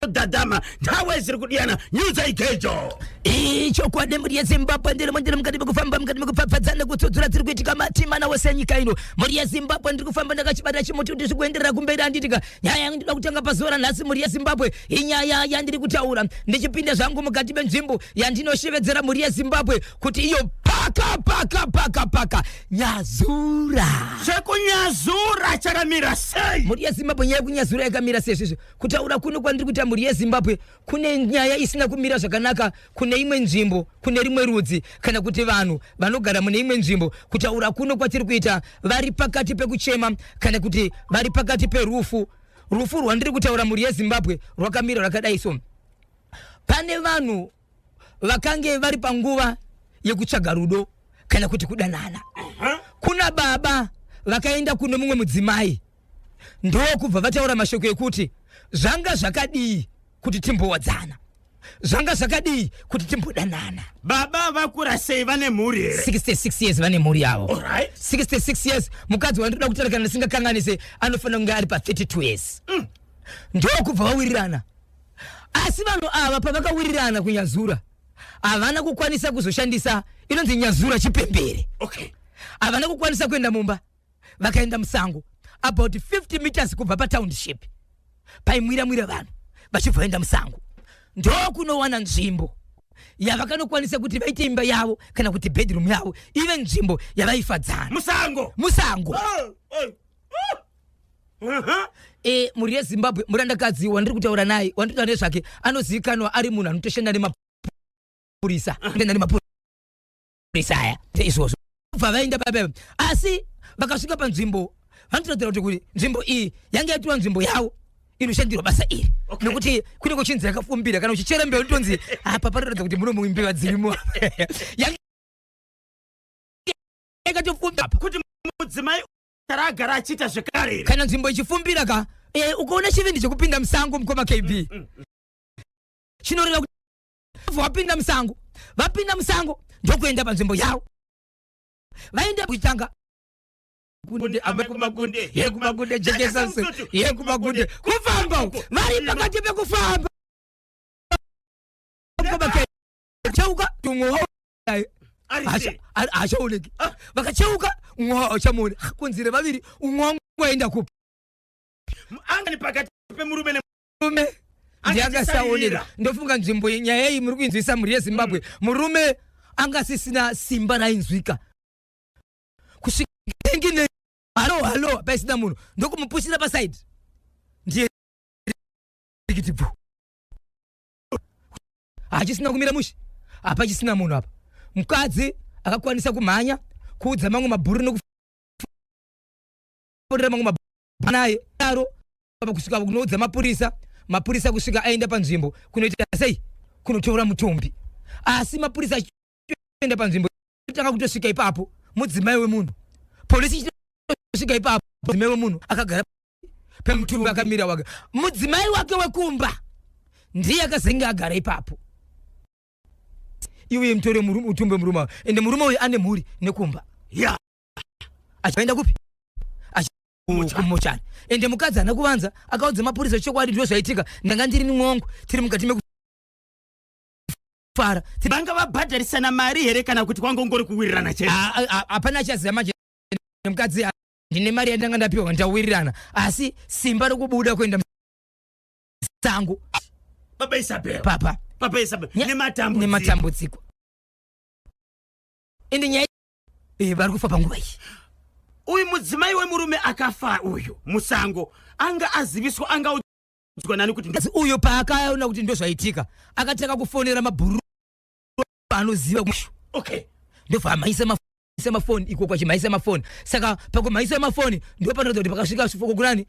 dadama nthawe ziri kudiyana nyuza igejo ichokwadi mhuri yezimbabwe ndiri mundiri mukati mekufamba mukati mekupfapfadza nekutsudzura dziri kuitika matimana wese enyika ino mhuri yezimbabwe ndiri kufamba ndakachibata chimuti kuti zvikuenderera kumberi anditika nyaya yangu ndida kutanga pazuva ranhasi mhuri yezimbabwe inyaya yandiri kutaura ndichipinda zvangu mukati menzvimbo yandinoshevedzera mhuri yezimbabwe kuti iyo paka paka paka paka nyazura zvekunyazura chakamira sei mhuri yezimbabwe nyaya yekunyazura yakamira sei svisvi kutaura kuno kwandiri kuita mhuri yezimbabwe kune nyaya isina kumira zvakanaka kune imwe nzvimbo kune rimwe rudzi kana kuti vanhu vanogara mune imwe nzvimbo kutaura kuno kwatiri kuita vari pakati pekuchema kana kuti vari pakati perufu rufu rwandiri kutaura mhuri yezimbabwe rwakamira rwakadai so pane vanhu vakange vari panguva yekutsvaga rudo kana kuti kudanana kuna baba vakaenda kuno mumwe mudzimai ndokubva vataura mashoko ekuti zvanga zvakadii kuti timbowadzana zvanga zvakadii kuti timbodanana baba vakura sei vane mhuri here 66 years vane mhuri yavo Alright. 66 years mukadzi wandoda kutarakana ndisingakanganise anofanira kunge ari pa 32 years mm. ndokubva vawirirana asi vanhu ava pavakawirirana kunyazura havana kukwanisa kuzoshandisa inonzi nyazura chipembere okay. havana kukwanisa kuenda mumba vakaenda musango about 50 meters kubva patownship paimwira mwira vanhu vachibva vaenda musango ndokunowana nzvimbo yavakanokwanisa kuti vaite imba yavo kana kuti bedroom yavo ive nzvimbo yavaifadzana musango musango oh, oh. e mhuri yezimbabwe murandakadzi wandiri kutaura naye wandiri kutaura nezvake anozivikanwa ari munhu anotoshanda nemapurisa toshanda nemapurisa aya seizvozvo bva vaenda pape asi vakasvika panzvimbo vanotoratira kuti kuti nzvimbo iyi yange yatiwa nzvimbo yavo inoshandirwa basa iri okay. nokuti kune kuchinzi yakafumbira kana uchichera mbeu tonzi apa panoratidza kuti muno muimbiva dzirimo yakatofumbira kuti mudzimai raagara achiita zvekare here kana nzvimbo ichifumbira ka e, ukaona chivindi chekupinda musango mukoma kb mm, mm, mm. chinoreva kuti vapinda musango vapinda musango ndokuenda panzvimbo yavo vaenda kuchitanga kunde ave kumakunde ye kumakunde jekesa ye kumakunde kufamba uko vari pakati pekufamba cheuka tumwe hachaoneki ah. vakacheuka umwe hachamuoni ah, kunzire vaviri umwe wangu waenda kupi anga ni pakati pemurume nemurume ndiangasaoneka ndofunga nzvimbo nyaya iyi muri kuinzwisa mhuri yezimbabwe mm. murume anga asisina simba rainzwika kusvika engine halo halo paisina munhu ndokumupushira pasaidi ndiye rikiti bvu hachisina kumira mushe apa chisina munhu apa mukadzi akakwanisa kumhanya kuudza mamwe mabhuri nokufonera mamwe mabhuri naye daro apa kusvika kunoudza mapurisa mapurisa kusvika aenda panzvimbo kunoita sei kunotora mutumbi asi mapurisa enda panzvimbo tanga kutosvika ipapo mudzimai wemunhu polisi ichitosvika ipapo mudzimai wemunhu akagara pemutumbi akamira wake mudzimai wake wekumba ndiye akazenge agara ipapo iwe mtore utumbe murume ende murume uyu ane mhuri nekumba ya achaenda kupi kumuchani ende mukadzi haana kuvanza akaudza mapurisa chokwadi ndizvo zvaitika ndanga ndiri nimwongo tiri mukati meku fara vanga vabhadharisana mari here kana kuti kwanga ungori kuwirirana chete hapana achaziva manje nemukadzi ah, ndine mari yandanga ndapiwa ndawirirana asi simba rokubuda kuenda sangu baba isabel papa papa isabel nematambudziko nematambudziko ende nyaya iyi eh, vari kufa panguva iyi uyu mudzimai wemurume akafa uyu musango anga aziviswa anga kunzwa nani kuti asi uyo paakaona kuti ndozvaitika akatanga kufonera mabhuru anoziva kushu okay ndobva amaisa ma semafoni iko kwachimhaisa mafoni saka pakumhaisa mafoni ndo panoratidza kuti pakasvika sifoko kunani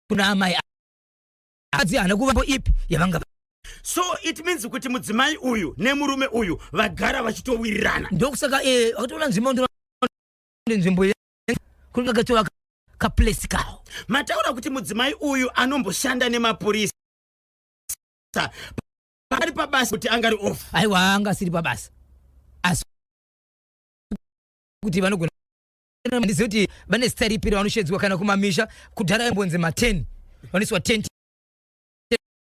kuna amai adzi hana kuvambo ipi yavanga so it means kuti mudzimai uyu nemurume uyu vagara vachitowirirana ndokusaka eh, akatoona nzvimbo nzvimbo kunge katova kaplace kawo mataura kuti mudzimai uyu anomboshanda nemapurisa paari pabasa kuti angari off aiwa anga asiri pabasa asi kuti vanogona ndizive kuti vane zita ripi ravanoshedzwa kana kumamisha kudhara yambonzi maten vanoiswa ten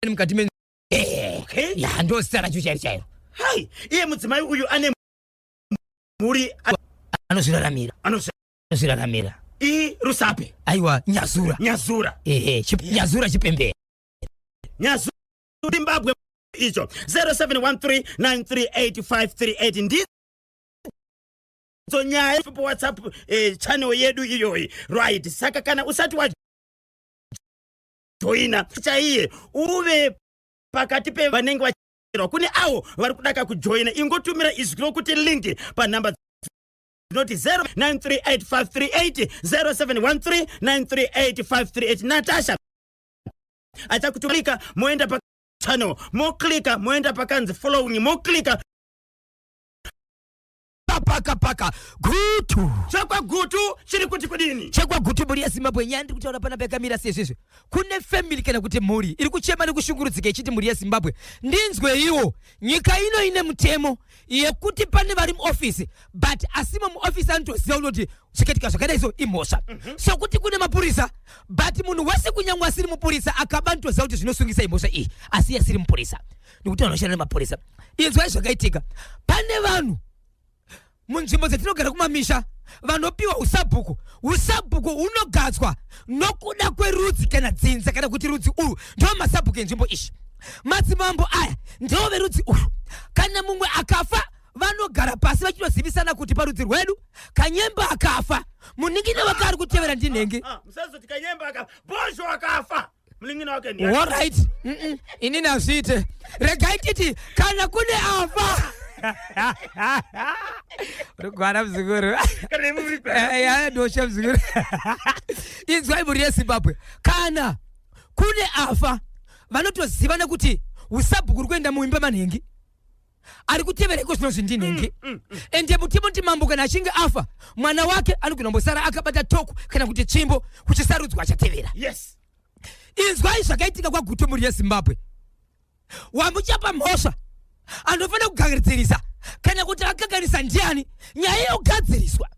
mukati me eh, okay. ya ndo zita racho chairo chairo hai iye mudzimai uyu ane muri anozviraramira anozviraramira i rusape aiwa nyazura nyazura ehe chip, nyazura chipembere nyazura zimbabwe icho 0713938538 ndi so nyaya pa whatsapp eh, channel yedu iyoyi right saka kana usati wa joina chaiye uve pakati pevanenge kubatsirwa kune avo vari kuda kakujoina ingotumira izwi rokuti linki panhamba dzinoti 09385380713938 natasha achakutumika moenda pa channel moklika moenda pakanzi following moklika paka paka gutu chekwa gutu chiri kuti kudini chekwa gutu mhuri yezimbabwe nyaya ndiri kutaura pana pekamira sezvizvi kune family kana kuti mhuri iri kuchema nekushungurudzika ichiti mhuri yezimbabwe ndinzweiwo nyika ino ine mutemo yekuti pane vari muofisi but asi mamuofisi anotoziva unoti zvikatika zvakadai so imhosva mm -hmm. sokuti kune mapurisa but munhu wese kunyangwe asiri mupurisa akaba anotoziva kuti zvinosungisa imhosva iyi asi yasiri mupurisa nekuti vanhu vashanda nemapurisa inzwai zvakaitika pane vanhu munzvimbo dzatinogara kumamisha vanopiwa usabhuku usabhuku hunogadzwa nokuda kwerudzi kana dzinza kana kuti rudzi urwu ndiwo masabhuku enzvimbo izvi madzimambo aya ndiwo verudzi urwu kana mumwe akafa vanogara pasi vachinozivisana kuti parudzi rwedu kanyemba akafa muningine wakaari kutevera ndinenge ah, ah, ah, musazoti kanyemba akafa bozho akafa munin'ina wake ndiani horait inini hazviite regai titi kana kune afa rugwana mzukuru dosha mzukuru inzwai mhuri yezimbabwe kana kune afa vanotoziva nekuti usabhuku uri kuenda muimba manhingi ari kutevera iko zvinonzi ndinenge mm, mm, mm. ende mutimoti mambo kana achinge afa mwana wake anogona kumbosara akabata toku kana kuti tsvimbo kuchisarudzwa achatevera yes. inzwai zvakaitika kwagutu mhuri yezimbabwe wamuchapa mhosva anofanira kugadzirisa kana kuti akagarisa ndiani nyaya yogadziriswa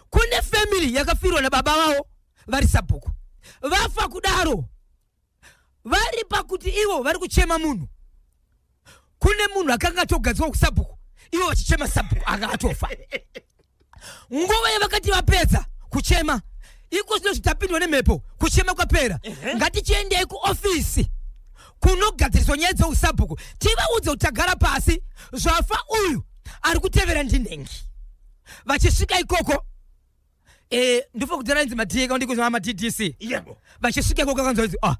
kune family yakafirwa nababa vavo vari sabhuku vafa kudaro vari pakuti ivo vari kuchema munhu kune munhu akanga atogadzwa kusabhuku ivo vachichema sabhuku anga atofa nguva yavakati vapedza kuchema iko zvino zvitapindwa nemhepo kuchema kwapera ngatichiendei kuofisi kunogadziriswa nyaya dzeusabhuku tivaudze kuti tagara pasi zvafa uyu ari kutevera ndinhengi vachisvika ikoko eh ndifo kudana inzi madhika undi kuzwa ma DDC yebo vachisuka kwa kanzwa inzi ah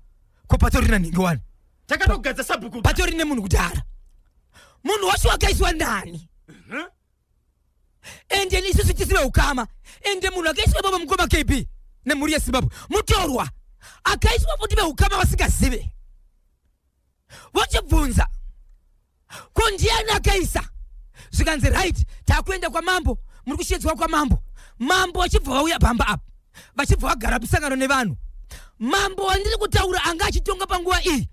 ko patori na ningi wani takatogadza sabhuku patori ne munhu kudara munhu wacho wakaiswa ndani mhm. ende ni sisi tisina ukama ende munhu akaiswa baba mkoma KB ne muri ya Zimbabwe mutorwa akaiswa futi be ukama wasingazive vochibvunza ko ndiani akaisa zvikanzi right takuenda kwamambo muri kushedzwa kwamambo mambo vachibva vauya pamba apa vachibva vagara musangano nevanhu mambo wandiri kutaura anga achitonga panguva iyi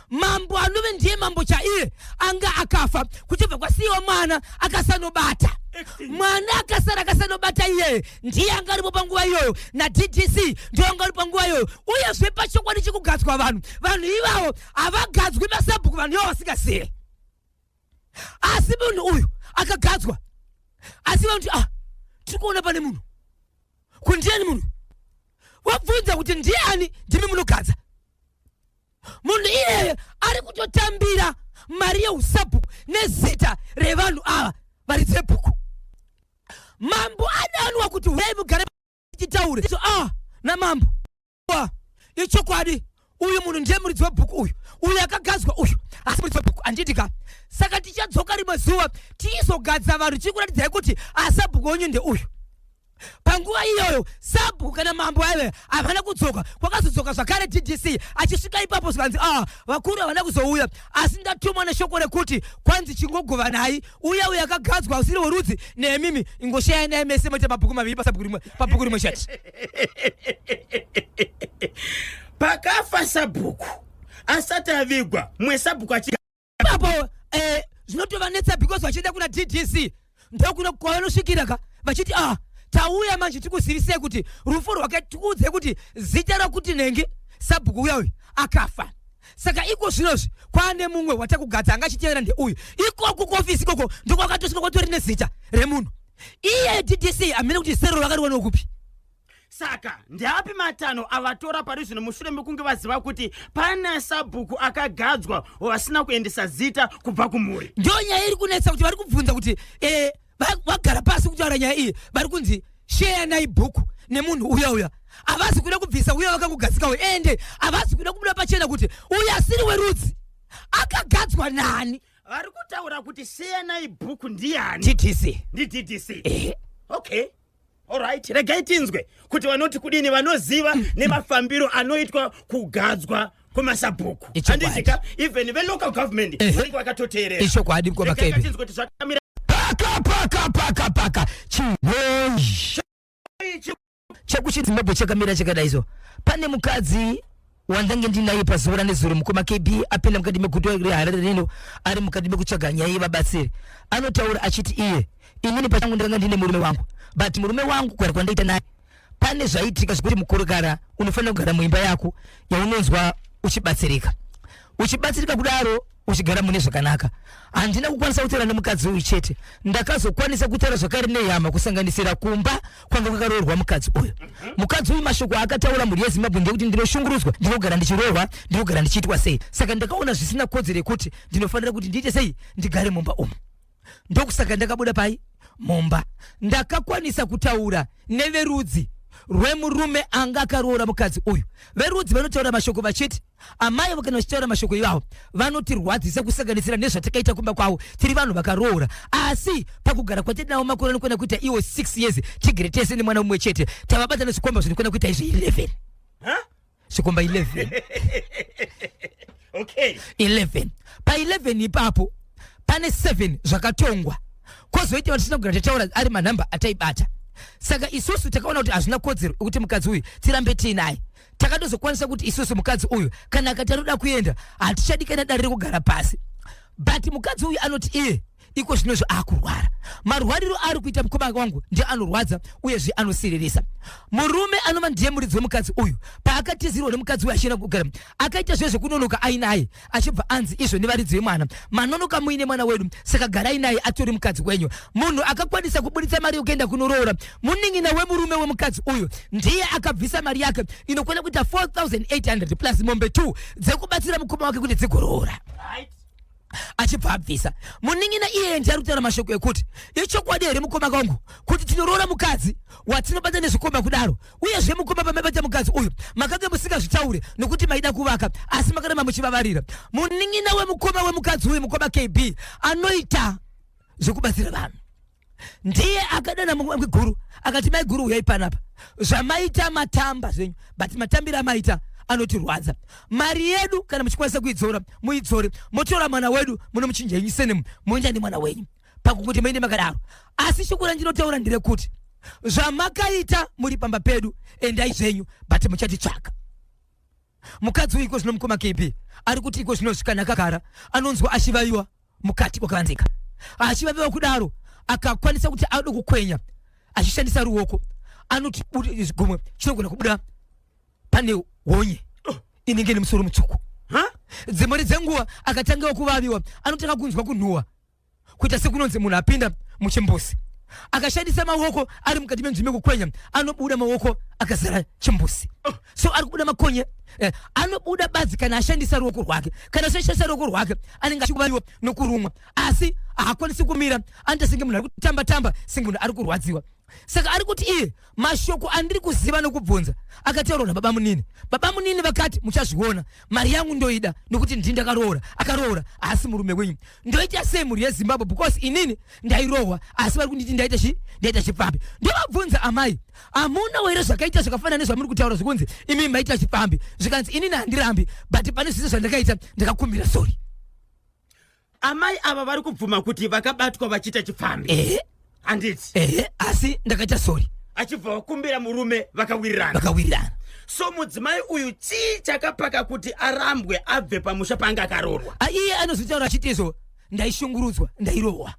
mambo anove ndiye mambo chaiye anga akafa kuchibva kwasiyiwa mwana akasanobata mwana akasara akasanobata iyeye ndiye anga aripo panguva iyoyo naddc ndiyo anga ari panguva iyoyo uyezve pachokwadi chekugadzwa vanhu vanhu ivavo havagadzwi masabhuku vanhu ivo vasingazive asi munhu uyu akagadzwa asi vanoti ah tiri kuona pane munhu kuti ndiani munhu wabvunza kuti ndiani ndimi munogadza munhu iyeye ari kutotambira mari yeusabhuku nezita revanhu ava varidze bhuku mambo adanwa kuti huyai mugare tichitaure so, ah, namambo ah, ichokwadi uyu munhu ndiye muridzi webhuku uyu uyu akagadzwa uyu asi muridzi webhuku andiitika saka tichadzoka rimwe zuva tiizogadza vanhu tichikuratidzai kuti asabhuku wenyu ndeuyu panguva iyoyo sabhuku kana mambo aive havana kudzoka kwakazodzoka zvakare ddc achisvika ipapo zvikanzi ah vakuru havana kuzouya asi ndatumwa neshoko rekuti kwanzi chingogovanai uya uya akagadzwa usiri worudzi nemimi ingoshaya naye mese moita mabhuku maviri pasabhuku rimwe pabhuku rimwe chete pakafa sabhuku asati avigwa mwe sabhuku achiapo eh, zvinotovanetsa because vachienda kuna ddc ndokuno kwavanosvikira ka vachiti ah tauya manje tikuzivisei kuti rufu rwake tikuudzei kuti zita rakuti nenge sabhuku uya uyu akafa saka iko zvinozvi kwaane mumwe watakugadza anga achitevera ndeuyu ikoku kuofisi ikoko ndokwakatosvika kwatori nezita remunhu iye ddc amene kuti zero vakariwanewo kupi saka ndeapi matanho avatora pari zvino mushure mekunge vaziva kuti pane sabhuku akagadzwa vasina kuendesa zita kubva kumhuri ndiyo nyaya iri kunetsa kuti vari kubvunza kuti eh, vagara pasi kutaura nyaya iyi vari kunzi sheyanai bhuku nemunhu uya uya havasi kuda kubvisa uya vakangogadzikawo ende havasi kuda kubuda pachena kuti uya asiri werudzi akagadzwa nani vari kutaura kuti sheyanai bhuku ndiani ddc ndi ddc okay Alright, regai tinzwe kuti vanoti kudini vanoziva nemafambiro anoitwa kugadzwa kwemasabhuku handizika even velocal government eh. vanenge vakatoteerera ichokwadi mkovaketinzwe kuti zvakamira paka paka paka paka chinoyi chekuchidzimbabwe chakamira chakadaiso pane mukadzi wandange ndinaye pazuva ranezuro mukoma kb apinda mukati meguta reharare rino ari mukati mekutsvaga nyaya yevabatsiri anotaura achiti iye inini pachangu ndakanga ndine murume wangu but murume wangu kugara kwandaita naye pane zvaitika zvekuti mukurukara unofanira kugara muimba yako yaunonzwa uchibatsirika uchibatsirika kudaro uchigara mune zvakanaka handina kukwanisa kutaura nemukadzi uyu chete ndakazokwanisa kutaura zvakare nehama kusanganisira kumba kwanga kwakaroorwa mukadzi uyu mukadzi uyu mashoko aakataura mhuri yezimbabwe ndekuti ndinoshungurudzwa ndinogara ndichiroorwa ndinogara ndichiitwa sei saka ndakaona zvisina kodzero yekuti ndinofanira kuti ndiite sei ndigare mumba umu ndokusaka ndakabuda pai mumba ndakakwanisa kutaura neverudzi rwemurume anga akaroora mukadzi uyu verudzi vanotaura mashoko vachiti amai avo kana vachitaura mashoko iwawo vanotirwadzisa kusanganisira nezvatakaita kumba kwavo tiri vanhu vakaroora asi pakugara kwatinawo makore anokwana kuita iwo 6 years tigere tese nemwana umwe chete tavabatana zvikomba zvinokwana kuita izvi 11 zvikomba 11 okay. 11 pa 11 ipapo pane 7 zvakatongwa kozoita vatisina kugara tataura ari manhamba ataibata saka isusu takaona kuti hazvina kodzero yekuti mukadzi uyu tirambe tiinaye takatozokwanisa kuti isusu mukadzi uyu kana akati anoda kuenda hatichadi kana dare rekugara pasi but mukadzi uyu anoti iye iko zvino izvo akurwara marwariro ari kuita mukoma wangu ndiye anorwadza uyezve anosiririsa murume anova ndiye muridzi wemukadzi uyu paakatizirwa nemukadzi uyu achienda kugara akaita zve zvekunonoka ainaye achibva anzi izvo nevaridzi vemwana manonoka muine mwana wedu saka garai naye atori mukadzi wenyu munhu akakwanisa kuburitsa mari yokuenda kunoroora munin'ina wemurume wemukadzi uyu ndiye akabvisa mari yake inokwana kuita 4800 plus mombe 2 dzekubatsira mukoma wake kuti dzigoroora right achibva abvisa munin'ina iyeye ndiye ari kutaura mashoko ekuti ichokwadi here mukoma kwangu kuti tinoroora mukadzi watinobata nezvikomba kudaro uyezve mukoma pamaivaita mukadzi uyu makange musingazvitaure nokuti maida kuvaka asi makarema muchivavarira munin'ina wemukoma wemukadzi uyu mukoma kb anoita zvekubatsira vanhu ndiye akadana mumwe guru akati mai guru uyai panapa zvamaita matamba zvenyu but matambiro amaita anotirwadza mari yedu kana muchikwanisa kuidzora muidzore motora mwana wedu munomuchinja inyu senemu moenda nemwana wenyu pakukuti maine makadaro asi shoko randinotaura ndirekuti zvamakaita muri pamba pedu endai zvenyu but muchatitsvaka mukadzi uyu iko zvino mukoma kb ari kuti iko zvino zvikana akagara anonzwa achivaiwa mukati kwakavanzika achivaviwa kudaro akakwanisa kuti ado kukwenya achishandisa ruoko anoti gumwe chinogona kubuda pane honye inenge nemusoro mutsvuku dzimari dzenguva akatangawo kuvaviwa anotanga kunzwa kunhuwa kuita sekunonzi munhu apinda muchimbuzi akashandisa maoko ari mukati menzvimbo yekukwenya anobuda maoko akazara chimbuzi so ari kubuda makonye eh, anobuda badzi kana ashandisa ruoko rwake kana ashandisa ruoko rwake anenge achikubaiwa nokurumwa asi haakwanisi kumira anoita senge munhu ari kutamba tamba senge munhu ari kurwadziwa saka ari kuti iye mashoko andiri kuziva nokubvunza akataurwa nababa munini baba munini vakati muchazviona mari yangu ndoida nokuti ndini ndakaroora akaroora haasi murume wenyu ndoita sei mhuri yezimbabwe because inini ndairohwa asi vari kunditi ndaita chi ndaita chipfambi ndovabvunza amai hamuna were zvakaita zvakafanana nezvamuri kutaura zvekunzi imi maita chipfambi zvikanzi inini handirambi but pane zvese zvandakaita ndakakumbira sorry amai ava vari kubvuma kuti vakabatwa vachiita chipfambi ehe handiti ehe asi ndakaita sori achibva vakumbira murume vakawirirana vakawirirana so mudzimai uyu chii chakapaka kuti arambwe abve pamusha paanga akaroorwa Ah, iye anozvitaura achiti izvo ndaishungurudzwa ndairohwa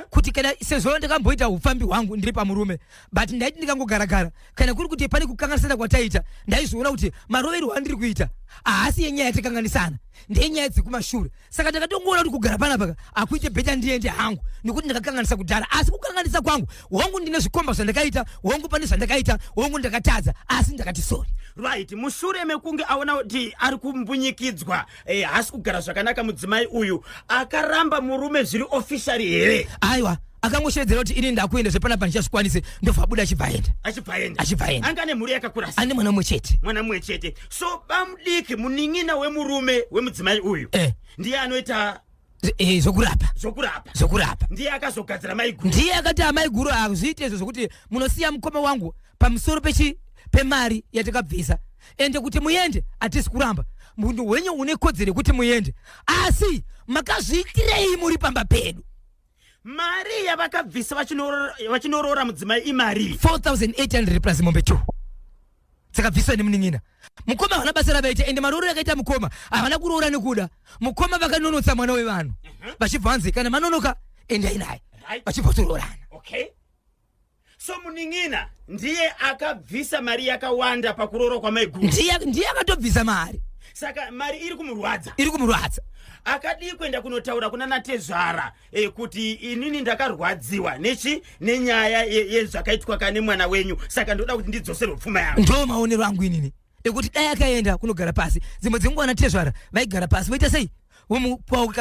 kuti kana sezvo ndakamboita upfambi hwangu ndiri pamurume but ndaiti ndikangogaragara kana kuri kuti pane kukanganisana kwataita ndaizoona kuti maroverwo andiri kuita haasi yenyaya yatakanganisana ndenyaya dzekumashure saka ndakatongoona kuti kugara panapaka akuite bheta ndiende hangu nekuti ndakakanganisa kudhara asi kukanganisa kwangu hongu ndine zvikomba zvandakaita hongu pane zvandakaita hongu ndakatadza asi ndakati sori right mushure mekunge aona kuti ari kumbunyikidzwa Hey, eh, hasi kugara zvakanaka mudzimai uyu akaramba murume zviri officially here aiwa akangoshevedzera kuti ini ndakuenda zvepanapa ndichazvikwanise ndobva abuda achibvaenda achibvaenda achibvaenda anga ane mhuri yakakura ane mwana mumwe chete mwana mumwe chete so bamudiki munin'ina wemurume wemudzimai uyu eh. ndiye anoita Z- eh, zvokurapa zvokurapa zvokurapa ndiye akazogadzira maiguru ndiye akati amai guru hazviite izvo zvokuti munosiya mukoma wangu pamusoro pechi pemari yatakabvisa ende kuti muende hatisi kuramba munhu wenyu une kodzero yekuti muende asi makazviitirei muri pamba pedu mari yavakabvisa vachinoro- vachinoroora mudzimai imari 4800 plus mombe 2 dzakabviswa nemunin'ina mukoma havana basa ravaita ende marooro yakaita mukoma havana kuroora nekuda mukoma vakanonotsa mwana wevanhu mhm. vachibva vanzi kana manonoka endai naye vachibva vatoroorana okay so munin'ina ndiye akabvisa mari yakawanda pakuroora kwamaiguru ndiye akatobvisa mari saka mari iri kumurwadza iri kumurwadza akadii kuenda kunotaura kuna natezvara e, kuti inini ndakarwadziwa nechi nenyaya yezvakaitwa ye, kane mwana wenyu saka ndoda kuti ndidzoserwe pfuma yangu ndo maonero angu inini ekuti dai akaenda kunogara pasi dzimwe dzenguva na tezvara vaigara pasi voita sei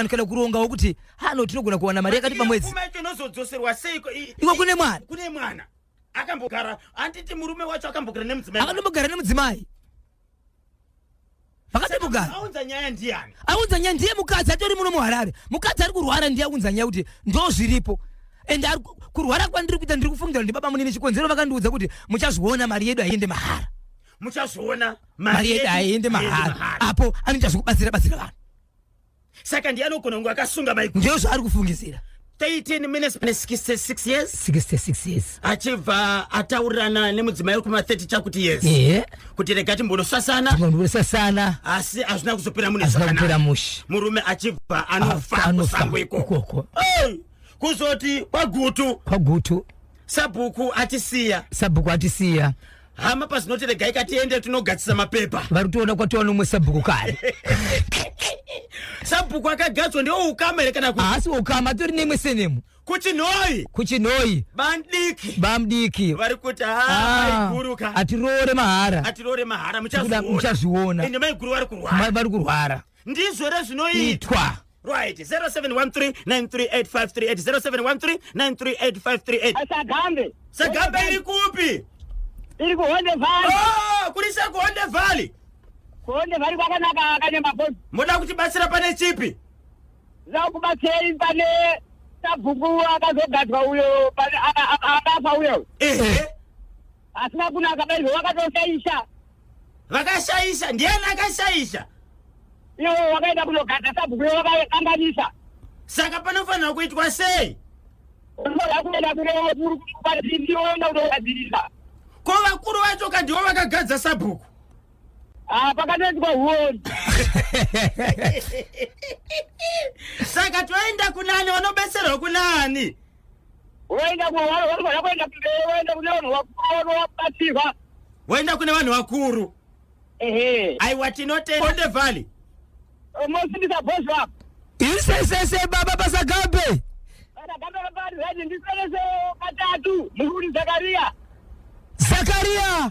kana kuronga wokuti hano tinogona kuwana mari yakati pamwedzi iko kune mwana kune mwana akambogara anditi murume wacho akambogara nemudzimai akambogara nemudzimai vakatobugara aunza nyaya ndiyani aunza nyaya ndiye mukadzi atori muno muharare mukadzi ari kurwara ndiye aunza nyaya kuti ndo zviripo and ari ku- kurwara kwandiri kuita ndiri kufungira ndi baba munini chikonzero vakandiudza kuti muchazviona mari yedu haiende mahara muchazviona mari yedu haiende mahara apo anoita zvekubatsira batsira vanhu saka ndiye anogona kunge akasunga maiko ndiyo zvaari kufungisira 13 minutes pane 66 years 66 years achibva ataurirana nemudzimai wekuma 30 chakuti yes ehe kuti rega timbonosasana timbonosasana asi hazvina kuzopera mune hazvina kupera zvakanaka mushe murume achibva anofa Afa, anofa kusango ikoko ikoko. Hey! kuzoti kwagutu kwagutu sabhuku atisiya sabhuku atisiya hama pazinoti regai katiende tinogadzisa mapepa varitoona kwatiwa nomwe sabhuku kare sabhuku akagadzwa ndiwo ukama here kana haasi ukama tori nemwe senemu kuchinhoyi kuchinhoyi bandiki bamdiki vari kuti haiguruka ah, atiroore mahara atiroore mahara muchazviona ende maiguru vari kurwara vari kurwara ndizvo rezvinoitwa right 0713938538 0713938538 asagambe sagambe iri kupi iri kuhonde valley oh kuri se kuhonde valley kuhonde valley kwakanaka akanyama boss moda kuti batsira pane chipi za kubatsira pane sabhuku akazogadzwa uyo pane akafa uyo ehe eh. Asina kunaka baizvo wakatoshaisha. Vakashaisha ndiani akashaisha? Iwe wakaenda kunogata sabhuku wakakanganisa. Saka panofanira kuitwa sei? Unoda kuenda kune vakuru kubatsirira woenda kunogadzirisa. Ko vakuru vacho ka ndivo vakagadza sabhuku? Ah, pakatoitwa huoni. Saka toenda kunani vanobetserwa kunani? Unoenda kwa wale wale wanakwenda mbele, unaenda kuna wale wakuru wapatiwa. Waenda kuna wale wakuru. Ehe. I want to know the Onde Valley. Most is a boss rap. Isesese baba basagabe. Basagabe baba, ndisese katatu, mhuri Zakaria. Zakaria.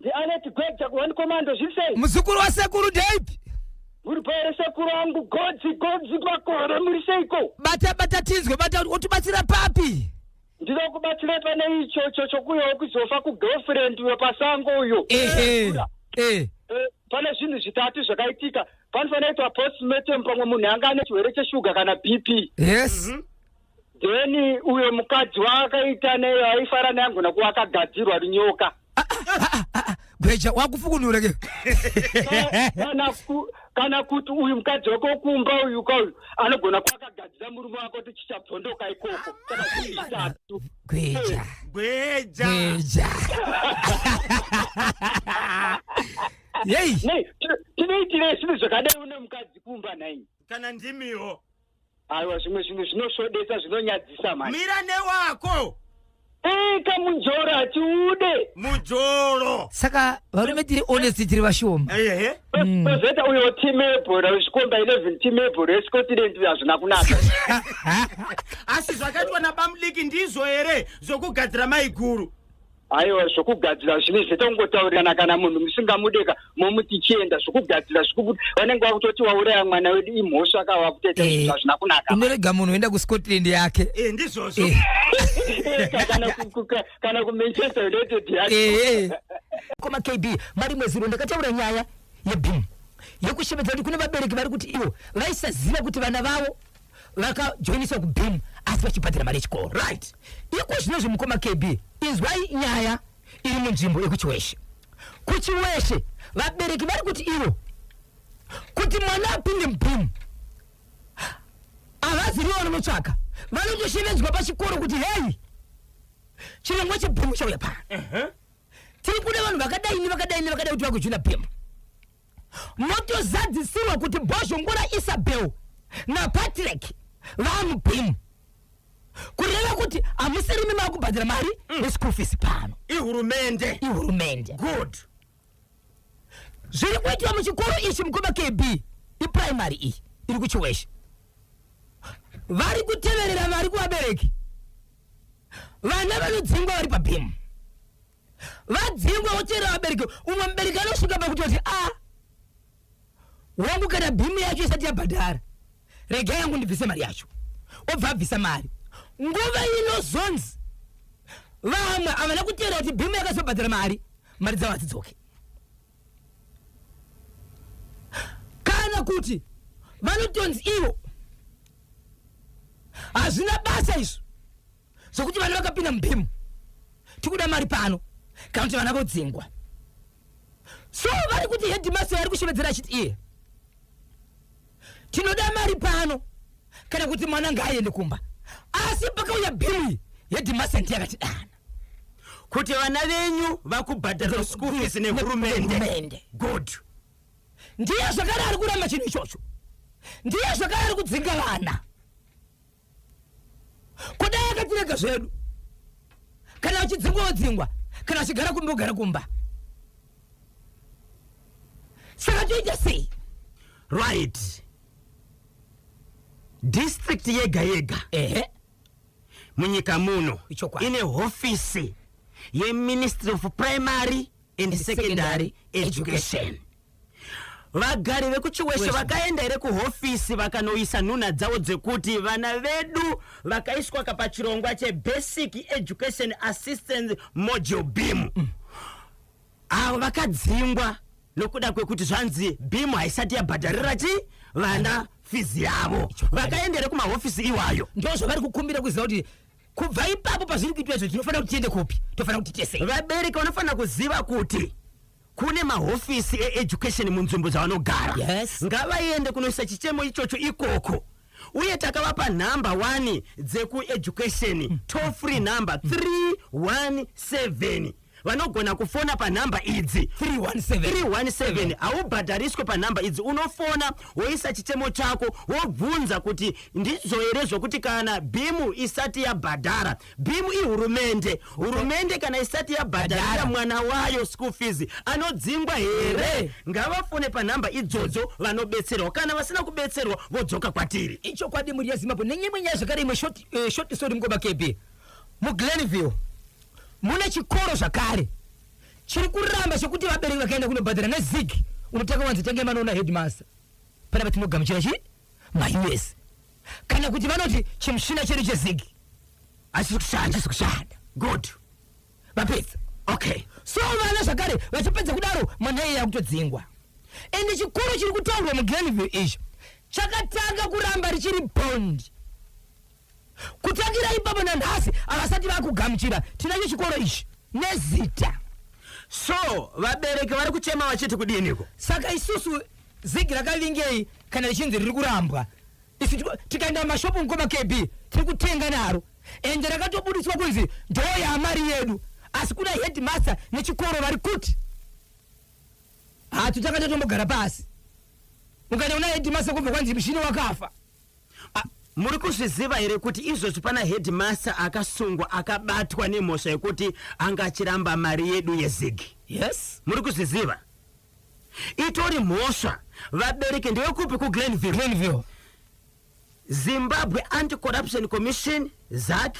Ndi Alert Gweja ku One Commando zviri sei? Muzukuru wa sekuru Dave. Muri pere sekuru wangu godzi godzi kwakore muri seiko? Bata bata tinzwe bata utibatsira papi? Ndino kubatsira pane icho cho chokuyo kuzofa ku girlfriend uyo pasango uyo. Ehe. Eh. eh. eh pane zvinhu zvitatu zvakaitika. Panofanira kuitwa postmortem pamwe munhu anga ane chirwere cheshuga kana BP. Yes. Mm -hmm. Then uyo mukadzi waakaita neyo aifara naye angona kuva akagadzirwa runyoka. Ah, ah, ah, Gweja wakufukunura ke. Kana ku kana kuti uyu mukadzi wako kumba uyu ka uyu anogona kuva akagadzira murume wako kuti chichabvondoka ikoko. Kana kuti chitatu. Gweja. Gweja. Gweja. Yei. Nei, ti- tinoitirei zvinhu zvakadai une mukadzi kumba nhai? Kana ndimiwo. Aiwa zvimwe zvinhu zvinosvodesa zvinonyadzisa mani. Mira newako. Eka eh, mujoro hatiude. Mujoro. Saka varume tiri honest tiri vashoma. Ehe. Eh, eh. mm. Kozeta uyo team ebhora wezvikomba 11 team ebhora yeScotland uyo hazvina kunaka. Asi zvakaitwa naBamliki ndizvo here zvokugadzira maiguru. aiwa zvokugadzira zvine zvete kungotaurirana kana munhu musingamudeka momuti chienda zvokugadzira zvikubuda vanenge vakutoti wauraya mwana wedu imhosva ka vakuteta eh, zvinhu hazvina kunaka unorega munhu oenda kuscotland yake eh, ndizvozvo eh. kana kumanchester united yake koma kb mari mweziro ndakataura nyaya yebim yekushevedza kuti kune vabereki vari kuti ivo vaisaziva kuti vana vavo vakajoiniswa kubim asi vachibhadhira mari yechikoro right iko zvino zvimukoma kb inzwai nyaya iri munzvimbo yekuchiweshe kuchiweshe vabereki vari kuti ivo kuti mwana apinde mubim havazivi vanonotsvaka vanotoshevedzwa pachikoro kuti hei chirongwa chebim chauya pano tiri kuda vanhu vakadai nevakadai nevakadai kuti vakujoina bim motozadzisirwa kuti bhozhongora isabel napatrick vamubhimu kureva kuti hamusirimi makubhadhira mari mm. yeschool fees pano ihurumende ihurumende good zviri kuitwa muchikoro ichi mukoma kb iprimary iyi iri kuchiweshe vari kuteverera mari kuvabereki vana vanodzingwa vari pabhimu vadzingwa voteera vabereki umwe mubereki anosvika pakutoti a ah, wangu kana bhimu yacho isati yabhadhara rega yangu ndibvise mari yacho obva abvisa mari nguva inozonzi vamwe havana kuteera kuti bhimu yakazobhadhara mari mari dzavo hadzidzoke kana kuti vanotonzi ivo hazvina basa izvo zvokuti vana vakapinda mubhimu tikuda mari pano kana kuti vana vodzingwa so vari kuti hedimasi ari kushevedzera achiti iye tinoda mari pano kana kuti mwana ngaaende kumba asi pakauya bhimu iyi hedimasi ndiye akati dana kuti vana venyu vakubhadhara school fees nehurumende good ndiye zvakare ari kuramba chinhu ichocho ndiye zvakare ari kudzinga vana kudai akatirega zvedu kana achidzingwa odzingwa kana achigara kumba ogara kumba saka toita sei right district yega yega ehe munyika muno Ichokwadi. ine hofisi yeministry of primary and secondary education Vagari vekuChiweshe vakaenda here kuhofisi vakanoisa nhunha dzavo dzekuti vana vedu vakaiswa ka pachirongwa che Basic Education Assistance Module beam avo vakadzingwa nokuda kwekuti zvanzi beam haisati yabhadharira chii vana fizi yavo vakaenda here kumahofisi iwayo Ndozvavari kukumbira kuziva kuti kubva ipapo pazviri kuitwa izvo tinofanira kuti tiende kupi? Tofanira kuti tese. vabereki vanofanira kuziva kuti kune mahofisi eeducation munzvimbo dzavanogara yes. ngavaende kunoisa chichemo ichocho ikoko uye takavapa nhamba wani dzekueducation mm. toll free number 317 mm. vanogona kufona panhamba idzi 317 haubhadhariswe panhamba idzi unofona woisa chichemo chako wobvunza kuti ndizvo here zvokuti kana bimu isati yabhadhara Beam ihurumende. Hurumende kana isati yabhadharira mwana wayo school fees anodzingwa here? Ngavafone panhamba idzodzo vanobetserwa. Kana vasina kubetserwa vodzoka kwatiri. Ichokwadi mhuri yeZimbabwe nenyimwe nyaya zvakare imwe short, eh, short story mukoma KB. MuGlenville mune chikoro zvakare chiri kuramba chekuti vabereki vakaenda kunobhadhara nezig unotanga wanzi tange manoona headmaster panapa tinogamuchira chii maUS kana kuti vanoti chimushina chedu chezig hachisi kushanda hachisi kushanda good vapedza okay so vana zvakare vachipedza kudaro mwana iye yakutodzingwa ende chikoro chiri kutaurwa mugrenville icho chakatanga kuramba richiri bond Kutangira ipapo nanhasi havasati vakugamuchira tinacho chikoro ichi nezita. So vabereki vari kuchema vachiti kudiniko? Saka isusu zigi rakavingei kana richinzi riri kurambwa? Isu tikaenda mashopu mukoma KB tiri kutenga naro ende rakatobuditswa kunzi ndoo yamari yedu asi kuna headmaster nechikoro vari kuti hatu takatatombogara pasi ukaenda kuna headmaster kubva kwanzi mushini wakafa Muri kuzviziva here kuti izvozvi pana headmaster akasungwa akabatwa nemhosva yekuti anga achiramba mari yedu yezigi? Yes. Muri kuzviziva? Itori mhosva. Vabereki ndewekupi kuGlenville? Glenville. Zimbabwe Anti-Corruption Commission, ZACC,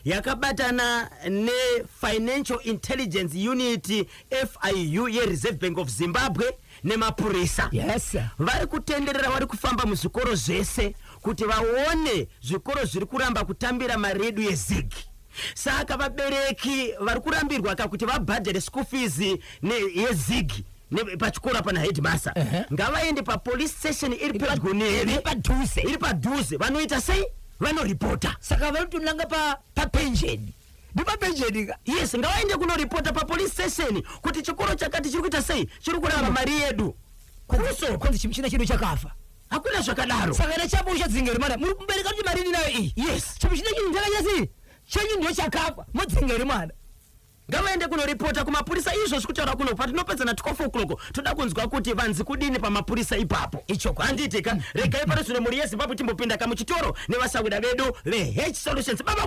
yakabatana nefinancial intelligence unit fiu yereserve bank of zimbabwe nemapurisa yes vari kutenderera vari kufamba muzvikoro zvese kuti vaone zvikoro zviri kuramba kutambira mari yedu yezig saka vabereki vari kurambirwa ka kuti vabhadhare school fees yezig ne- pachikoro pana headmaster Ehe. ngavaende papolice station iri pedyo neve padhuze iri padhuze vanoita sei vanoripota saka vanotonanga pa papenjeni ndi papenjeni ka yes ngavaende kunoripota papolice station kuti chikoro chakati chiri kuita sei chiri kuramba mari yedu kuso kwanzi chimuchina chedu chakafa hakuna zvakadaro saka na chapo uchadzinga rimana muri kumbereka kuti mari ndinayo iyi yes chimuchina chinhu chakanyasi chenyu ndiyo chakafa modzinga rimana Ngavaende kunoripota kumapurisa izvozvi kutaura kuno patinopedzana 12 o'clock toda kunzwa kuti vanzi kudini pamapurisa ipapo. Ichoko handiitika. Regai pano zvino mhuri yeZimbabwe timbopinda kamuchitoro nevasahwira vedu veH Solutions. Baba